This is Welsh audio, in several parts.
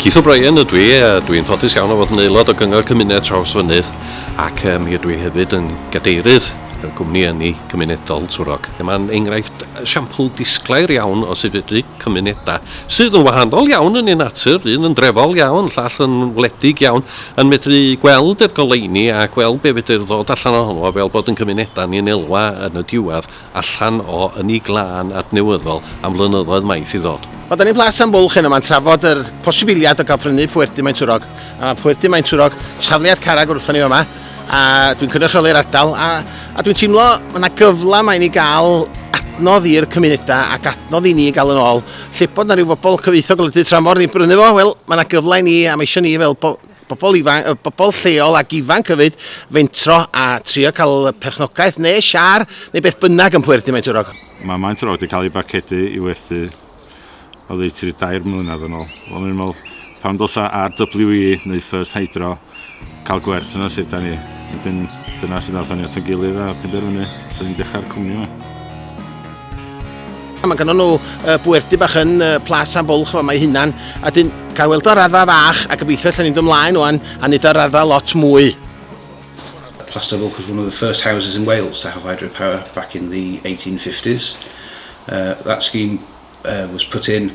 Keith O'Brien ydw i, a dwi'n ffodus iawn o fod yn aelod o Gyngor Cymuned Trawsfynydd ac um, mi ydw i hefyd yn gadeirydd y gwmni ynni cymunedol Twrog. Mae'n enghraifft siampl disglair iawn o sut fedru cymunedau sydd yn wahanol iawn yn ei natur, un yn drefol iawn, llall yn wledig iawn, yn medru gweld yr goleuni a gweld be fedr ddod allan ohono fo fel bod yn cymuneda ni yn elwa yn y diwadd allan o ynni glân adnewyddol am flynyddoedd maith i ddod. Wel 'da ni'n Plas am Bwlch heno 'ma'n trafod yr posibiliad o ga'l prynu Poerdy Maentwrog a ma' Poerdy Maentwrog safliad carreg wrthon ni fama a dwi'n cynrychioli'r ardal a a dwi'n teimlo ma' 'na gyfla 'ma i ni ga'l adnodd i'r cymuneda ac adnodd i ni ga'l yn ôl Lle bod 'na ryw fobol cyfoethog yn y du tramor ni'n brynu fo, wel, ma' 'na gyfle i ni, a ma' isio ni fel bo- bobol ifan- yy bobol lleol ac ifanc hefyd, fentro a trio ca'l perchnogaeth ne' siâr ne' beth bynnag yn Pwerdy Maentwrog. Ma' Maentwrog 'di ca'l ei barcedu i werthu oddeutu dair mlynadd yn ôl. Wel o'n i'n me'wl Pan ddylsa RWE neu First Hydro cael gwerth yna sut da ni? Wedyn dyna sydd nathon ni at ein gilydd a penderfynu swn ni'n dechrau'r cwmni yma. Mae gynnon nhw uh, bwerdy bach yn uh, Plas am Bwlch fama ei hunan, a dyn cael weld o'r arfa fach, a gobeithio allan ni'n dymlaen o'n, a nid o'r arfa lot mwy. Plas am Bwlch was one of the first houses in Wales to have hydropower back in the 1850s. Uh, that scheme uh, was put in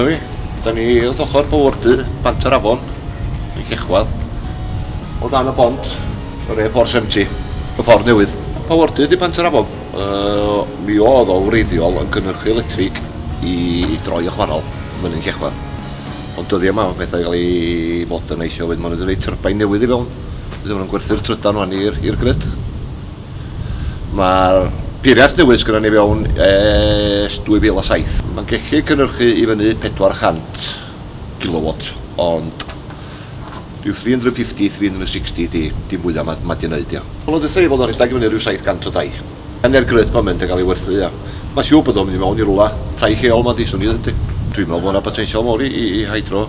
Dyna ni, da ni wrth ochr Powyrdy, Bant yr Afon, yn Llechwedd. O dan y bont, yr A470, y ffordd newydd. Powyrdy di Bant yr Afon. Uh, mi oedd o wreiddiol yn cynnyrchu electrig i droi a chwannol yn Llechwedd. Ond dyddi yma, mae pethau gael ei fod yn eithio, wedyn maen nhw wedi gwneud tyrbain newydd i fewn. Bydd nhw'n gwerthu'r trydan rwan i'r grid. Mae'r peiriant newydd sgynnon ni fewn ers 2007. Mae'n gellu cynhyrchu i fyny 400 kilowat, ond rhyw 350, 360 di, di mwya ma, ma di neud ia. Wel ddetha i fod yn rhedag i fyny rhyw 700 o dai. A ne'r gryth ma'n mynd yn cael ei werthu ia. Mae'n siŵr bod o'n mynd i mewn i rwla, tai lleol ma di, swn i ddeud yndi. Dwi'n meddwl bod yna botensial mawr i, i, i hydro,